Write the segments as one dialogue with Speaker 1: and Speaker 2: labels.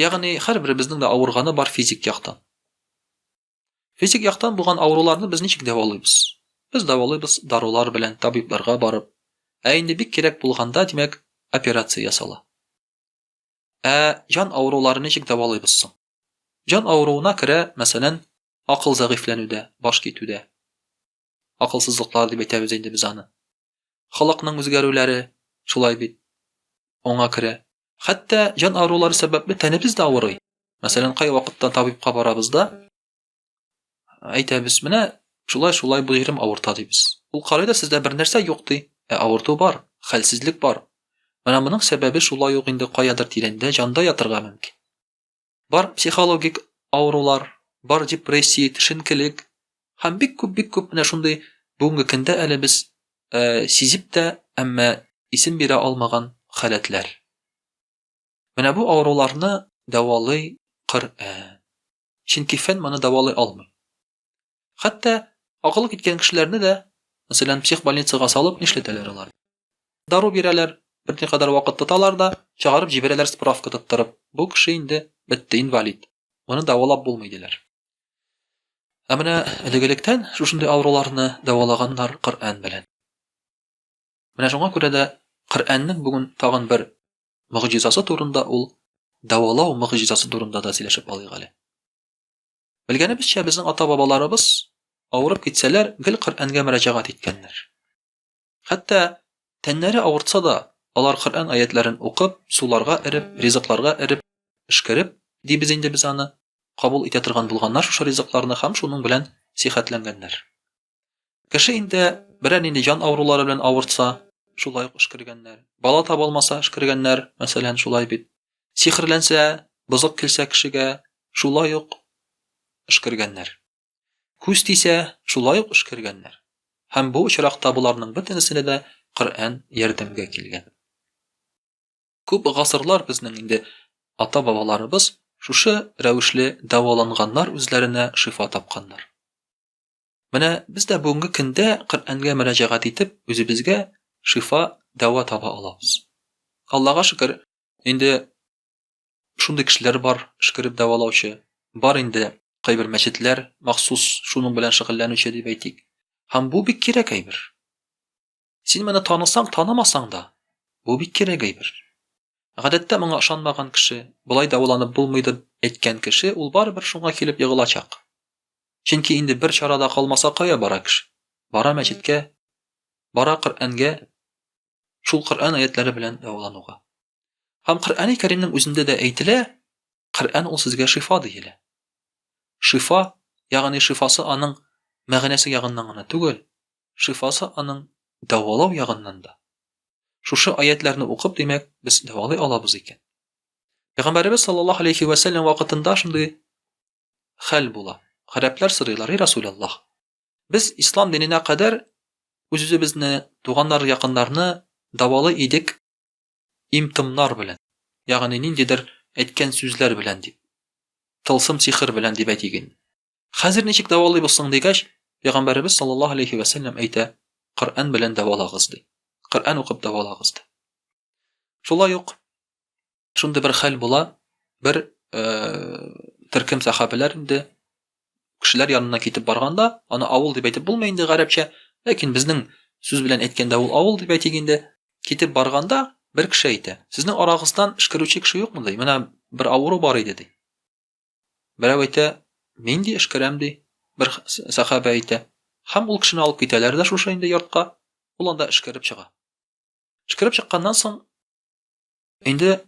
Speaker 1: Ягъни һәрберебезнең дә авырганы бар физик яктан. Физик яктан булган авыруларны без ничек дәвалыйбыз? Без дәвалыйбыз дарулар белән, табибларга барып. Ә инде бик кирәк булганда, димәк, операция ясала. Ә җан авырулары ничек дәвалыйбыз соң? Җан авыруына керә, мәсәлән, акыл зәгыйфьләнүдә, баш китүдә. Акылсызлыклар дип әйтәбез инде без аны. Халыкның үзгәрүләре шулай бит. Аңа керә. Хәтта җан авырулары сәбәпле тәнебез дә авырый. Мәсәлән, кайвакытта табибка барабыз да, әйтәбез, менә шулай-шулай бу җирем авырта дибез. Ул карый да сездә бернәрсә юк ди. Ә авырту бар, хәлсезлек бар. Менә моның сәбәбе шулай ук инде каядыр тирәндә җанда ятырга мөмкин. Бар психологик авырулар, бар депрессия, төшенкелек һәм бик күп, бик күп менә шундый бүгенге көндә әле без сизеп тә, әмма исем бирә алмаган халәтләр. Менә бу авыруларны дәвалый Коръән. Чөнки фән моны дәвалый алмый. Хәтта акылы киткән кешеләрне дә, мәсәлән, психбольницага салып, нишләтәләр алар? Дару бирәләр, берникадәр вакыт тоталар да, чыгарып җибәрәләр справка тоттырып, бу кеше инде бетте, инвалид, моны дәвалап булмый, диләр. Ә менә элек-электән шушындый авыруларны дәвалаганнар Коръән белән. Менә шуңа күрә дә Коръәннең бүген тагын бер мөгъҗизасы турында ул дәвалау мөгъҗизасы турында да сөйләшеп алыйк әле. Белгәнебезчә, безнең ата-бабаларыбыз, авырып китсәләр, гел Коръәнгә мөрәҗәгать иткәннәр. Хәтта тәннәре авыртса да, алар Коръән аятьләрен укып, суларга эреп, ризыкларга эреп, пешкереп, дибез инде без аны, кабул итә торган булганнар шушы ризыкларны һәм шуның белән сихәтләнгәннәр. Кеше инде берәр нинди җан авырулары белән авыртса, шулай ук эшкергәннәр. Бала таба алмаса, эшкергәннәр, мәсәлән, шулай бит. Сихерләнсә, бозык килсә кешегә, шулай ук эшкергәннәр. Күз тисә, шулай ук эшкергәннәр. Һәм бу очракта боларның бөтенесенә дә Коръән ярдәмгә килгән. Күп гасырлар безнең инде ата-бабаларыбыз шушы рәвешле дәваланганнар, үзләренә шифа тапканнар. Менә без дә бүгенге көндә Коръәнгә мөрәҗәгать итеп, үзебезгә шифа, дәва таба алабыз. Аллага шөкер, инде шундый кешеләр бар, шкереп дәвалаучы. Бар инде кайбер мәчетләр махсус шуның белән шөгыльләнүче дип әйтик. Һәм бу бик кирәк әйбер. Син моны танысаң, танымасаң да, бу бик кирәк әйбер. Гадәттә моңа ышанмаган кеше, болай дәваланып булмый дип әйткән кеше ул барыбер шуңа килеп егылачак. Чөнки инде бер чара да калмаса кая бара кеше? Бара мәчеткә, бара Коръәнгә, шул Коръән аятләре белән дәвалануга. Һәм Коръәни Кәримнең үзендә дә әйтелә, Коръән ул сезгә шифа диелә. Шифа, ягъни шифасы аның мәгънәсе ягыннан гына түгел, шифасы аның дәвалау ягыннан да. Шушы аятьләрне укып, димәк, без дәвалый алабыз икән. Пәйгамбәребез саллаллаһу алейхи вә сәлләм вакытында шундый хәл була. Гарәпләр сорыйлар, "И Расуляллаһ, без ислам диненә кадәр үз-үзебезне, туганнар, якыннарны дәвалый идек имтымнар белән, ягъни ниндидер әйткән сүзләр белән дип, тылсым сихер белән дип әйтик инде. Хәзер ничек дәвалыйбыз соң дигәч, Пәйгамбәребез саллаллаһу алейхи ва сәлләм әйтә, Коръән белән дәвалагыз ди. Коръән укып дәвалагыз ди. Шулай ук шундый бер хәл була, бер э, төркем сахабиләр инде кешеләр янына китеп барганда, аны авыл дип әйтеп булмый инде гарәпчә, ләкин безнең сүз белән әйткәндә ул авыл дип әйтик инде. Китеп барганда бер кеше әйтә, сезнең арагыздан эшкәрүче кеше юкмы ди? Менә бер авыру бар иде ди. Берәү әйтә, Нинди эш керәм, ди. Бер сәхабә әйтә. Һәм ул кешене алып китәләр дә шушы инде йортка. Ул анда эшкәреп чыга. Эшкәреп чыкканнан соң инде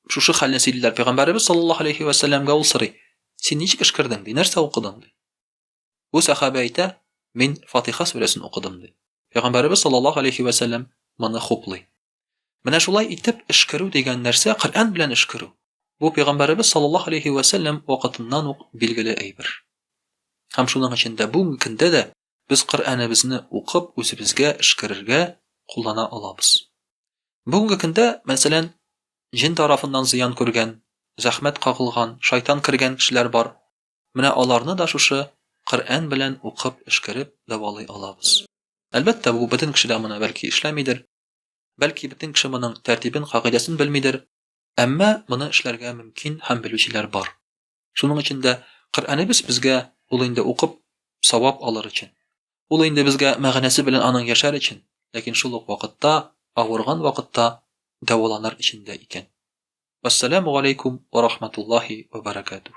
Speaker 1: шушы хәлне сөйлиләр. Пәйгамбәребез саллаллаһу алейхи вәсәлләмгә ул сорый. Син ничек эшкәрдең, ди, нәрсә укыдың, ди. Бу сәхабә әйтә, мин Фатиха сүрәсен укыдым, ди. Пәйгамбәребез саллаллаһу алейһи вә сәлләм моны хуплый. Менә шулай итеп эшкерү дигән нәрсә Коръән белән эшкерү. Бу пәйгамбәребез саллаллаһу алейһи вә сәлләм вакытыннан ук билгеле әйбер. Һәм шуның өчен дә бүгенге көндә дә без Коръәнебезне укып үзебезгә эшкерергә куллана алабыз. Бүгенге көндә, мәсәлән, җен тарафыннан зыян күргән, зәхмәт кагылган, шайтан кергән кешеләр бар. Менә аларны да шушы Коръән белән укып, эшкәреп дәвалый алабыз. Әлбәттә, бу бөтен кешедә моны бәлки эшләмидер, бәлки бөтен кеше моның тәртибен, кагыйдәсен белмидер, әмма моны эшләргә мөмкин һәм белүчеләр бар. Шуның өчен дә Коръәнебез безгә ул инде укып, савап алыр өчен. Ул инде безгә мәгънәсе белән аның яшәр өчен, ләкин шул ук вакытта авырган вакытта дәваланыр өчен дә икән. Вәссәламү галәйкүм вә рахматуллаһи вә бәрәкәтүһ.